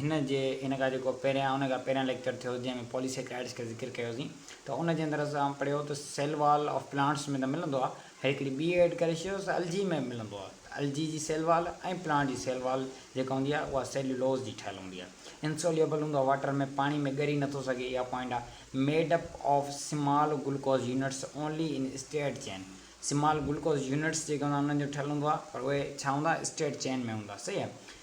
هن جي ان کان جيڪو پهريان ان کان پهريان ليڪچر ٿيو جنهن ۾ پوليسيڪرائڊس کي ذڪر ڪيوسين ته ان جي اندر اسان پڙهيو ته سيل وال آف پلانٽس ۾ ته ملندو آهي هيڏي هڪڙي ٻي ايڊ ڪري ڇڏيو ته الجي ۾ به ملندو آهي ته الجي جي سيل وال ۽ پلانٽ جي سيل وال جيڪا هوندي آهي اها سيليولوز جي ٺهيل هوندي آهي انسوليبل هوندو آهي واٽر ۾ پاڻي ۾ ڳري نٿو سگهي اها پوائنٽ آهي made up of small glucose units only in steered chain small glucose units جيڪي هوندا آهن انهن جو ٺهيل هوندو آهي پر اهي ڇا هوندا اسٽيئرڊ چين ۾ هوندا صحيح آهي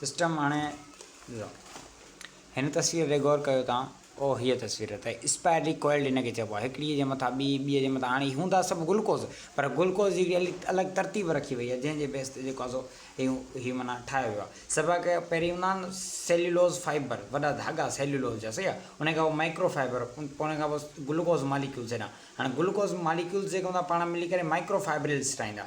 سسٽم هاڻي ڏسو هن تصوير تي غور ڪيو تان او هيء تصوير ته اسپائرلي ڪوئلڊ ان کي چئبو آهي هڪڙيء جي مٿان ٻي ٻيء جي مٿان هاڻي هوندا سڀ گلوڪوز پر گلوڪوز جي هڪڙي الڳ ترتيب رکي وئي آهي جنهن جي بيس تي جيڪو آهي سو هي هي معنيٰ ٺاهيو ويو آهي سڀا کي پهرين هوندا آهن سيليولوز فائبر وڏا ڌاڳا سيليولوز جا صحيح آهي ان کان پوء مائڪرو فائبر ان پوء ان کان پوء گلوڪوز ماليڪيولز هيڏانهن هاڻي گلوڪوز ماليڪيولز جيڪي هوندا پاڻ ملي ڪري مائڪرو فائبرلز ٺاهيندا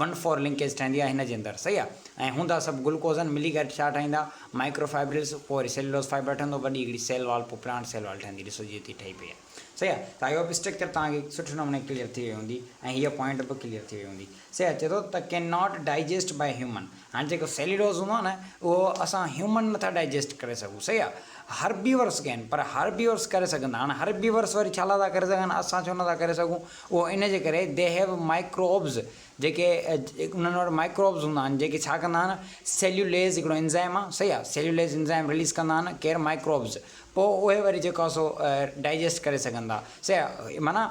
ون فور لنڪيج ٺهندي آهي هن جي اندر صحيح آهي ۽ هوندا سڀ گلوڪوزن ملي ڪري ڇا ٺاهيندا مائڪرو فائبرلز پوء وري سيلولوز فائبر ٺهندو وڏي هڪڙي سيل وال پوء پلانٽ سيل وال ٺهندي ڏسو جيئن تيئن ٺهي پئي آهي صحيح آهي ته آئي هوپ اسٽرڪچر توهان کي سٺي نموني ڪليئر ٿي وئي هوندي ۽ هيء پوائنٽ به ڪليئر ٿي وئي هوندي صحيح آهي چئي ٿو ته can not digest by human هاڻي جيڪو سيلولوز هوندو آهي نه اهو اسان هيومن نٿا ڊائجيسٽ ڪري سگهون صحيح آهي هربيورس ڪين پر هربيورس ڪري سگهندا هاڻي هربيورس وري ڇا لاء ٿا ڪري سگهن اسان ڇو نٿا ڪري سگهون اهو ان جي ڪري They have microbes جيڪي انهن وٽ مائڪروبز هوندا آهن جيڪي ڇا ڪندا آهن سيليوليز هڪڙو انزائم آهي صحيح آهي سيليوليز انزائم رليز ڪندا آهن ڪير مائڪروبز پوء اهي وري جيڪو آهي سو ڊائجسٽ ڪري سگهندا صحيح آهي معنيٰ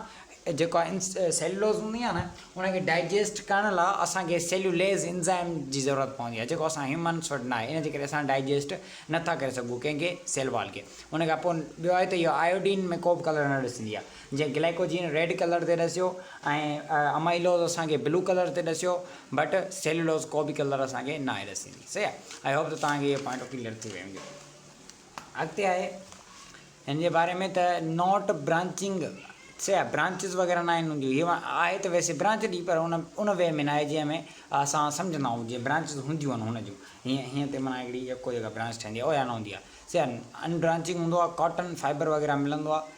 جيڪو آهي سيليولوز هوندي آهي نه ان کي ڊائجسٽ ڪرڻ لاء اسان کي سيليوليز انزائم جي ضرورت پوندي آهي جيڪو اسان هيومنس وٽ ناهي ان جي ڪري اسان ڊائجسٽ نٿا ڪري سگهون ڪنهن کي سيل وال کي ان کان پوء ٻيو آهي ته اهو آيوڊين ۾ ڪو به ڪلر نه ڏسندي آهي جيئن گلائيڪوجين ريڊ ڪلر تي ڏسيو ۽ امائيلوز اسان کي بلو ڪلر تي ڏسيو بٽ سيلولوز ڪو به ڪلر اسان کي ناهي ڏسيندي صحيح آء هوپ ته توهان کي اهو پوائنٽ ڪليئر ٿي ويو هوندو اڳتي آهي هن جي باري ۾ ته نوٽ برانچنگ صحيح آ برانچز وغيرہ ناهن هونديون هي آهي ته ويسي برانچ ڏي پر ان ان وي ۾ ناهي جنهن ۾ اسان سمجهندا آهيون جيئن برانچز هونديون آهن هن جون هيئن هيئن تي معنيٰ هڪڙي يڪو جيڪا برانچ ٺهندي آهي اهو يا نه هوندي آهي صحيح آ ان برانچنگ هوندو آهي ڪاٽن فائبر وغيره ملندو آهي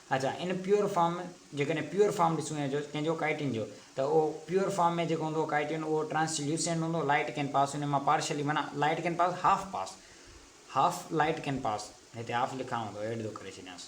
اچا ان پيور فارم جيڪڏهن پيور فارم ڏسون يا جو ڪنهن جو ڪائٽين جو ته اهو پيور فارم ۾ جيڪو هوندو ڪائٽين اهو ٽرانس ليوسينٽ هوندو لائٽ ڪين پاس ان مان پارشلي معنيٰ light can pass half pass half light can pass هتي هاف لکان هوندو ايڊ ٿو ڪري ڇڏيانس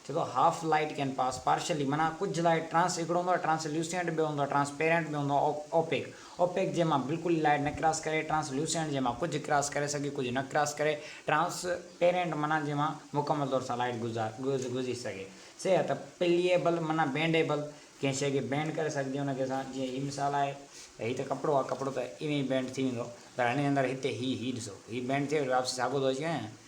چي ٿو half light can pass partially معنيٰ ڪجهه لائٽ ٽرانس هڪڙو هوندو ٽرانس ليوسينٽ ٻيو هوندو ٽرانس پيرنٽ ٻيو هوندو اوپيڪ اوپيڪ جنهن مان بلڪل لائٽ نه ڪراس ڪري، ٽرانس لوسينٽ جنهن مان ڪجهه ڪراس ڪري سگهي ڪجهه نه ڪراس ڪري، ٽرانس پيرينٽ معنيٰ جنهن مان مڪمل طور سان لائٽ گذري سگهي سي آهي ته پليئبل معنيٰ بينڊيبل ڪنهن شيء کي بينڊ ڪري سگهجي ان کي اسان جيئن هي مثال آهي ته هي ته ڪپڙو آهي ڪپڙو ته ايوين ئي بينڊ ٿي ويندو پر هني اندر هتي هي هي ڏسو هي بينڊ ٿئي وري واپسي ساڳو ٿو اچي وڃي نه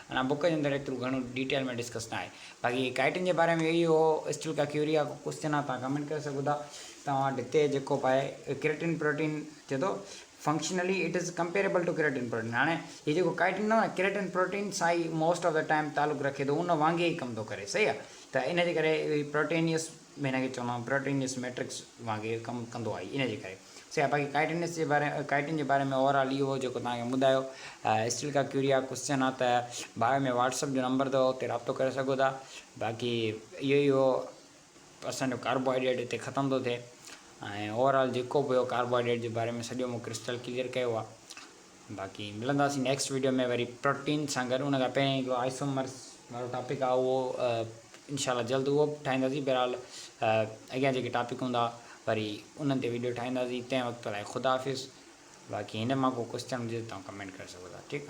ان بوڪ جي اندر ايترو گهڻو ڊيٽيل ۾ ڊسڪس نه آهي باقي ڪائٽن جي باري ۾ اهو ئي هو اسٽل ڪا ڪيوريا ڪو ڪوسچن آهي تان ڪمينٽ ڪري سگهو ٿا توهان وٽ هتي جيڪو به آهي ڪريٽن پروٽين چئي ٿو functionally it is comparable to keratin protein هاڻي هي جيڪو ڪائٽن نه ڪريٽن پروٽين سان ئي موسٽ آف دا ٽائم تعلق رکي ٿو ان وانگي ئي ڪم ٿو ڪري صحيح آهي ته ان جي ڪري پروٽينيس ۾ هن کي چوندو آهيان پروٽينيس ميٽرڪس وانگي ڪم ڪندو آهي ان جي ڪري سياح باقي ڪائٽ انڊسٽري جي باري ڪائٽن جي باري ۾ اوور آل اهو جيڪو توهان کي ٻڌايو اسٽل ڪا ڪيوريا ڪوسچن آ ته بايو ۾ واٽس اپ جو نمبر اٿو اتي رابطو ڪري سگهو ٿا باقي اهو ئي هو اسان جو ڪاربوهائيڊريٽ هتي ختم ٿو ٿئي ۽ اوور آل جيڪو به هو ڪاربوهائيڊريٽ جي باري ۾ سڄو مون ڪرسٽل ڪليئر ڪيو آ باقي ملنداسين نيڪسٽ ويڊيو ۾ وري پروٽين سان گڏ ان کان پهرين هڪڙو آئسومرس وارو ٽاپڪ آ اهو انشاء الله جلد اهو به ٺاهينداسين بهرحال اڳيان جيڪي ٽاپڪ هوندا وري انهن تي ويڊيو ٺاهينداسين تنهن وقت لاء خدا حافظ باقي هن مان ڪو ڪوشچن هجي ته تمام ڪمينٽ ڪري سگهو ٿا ٺيڪ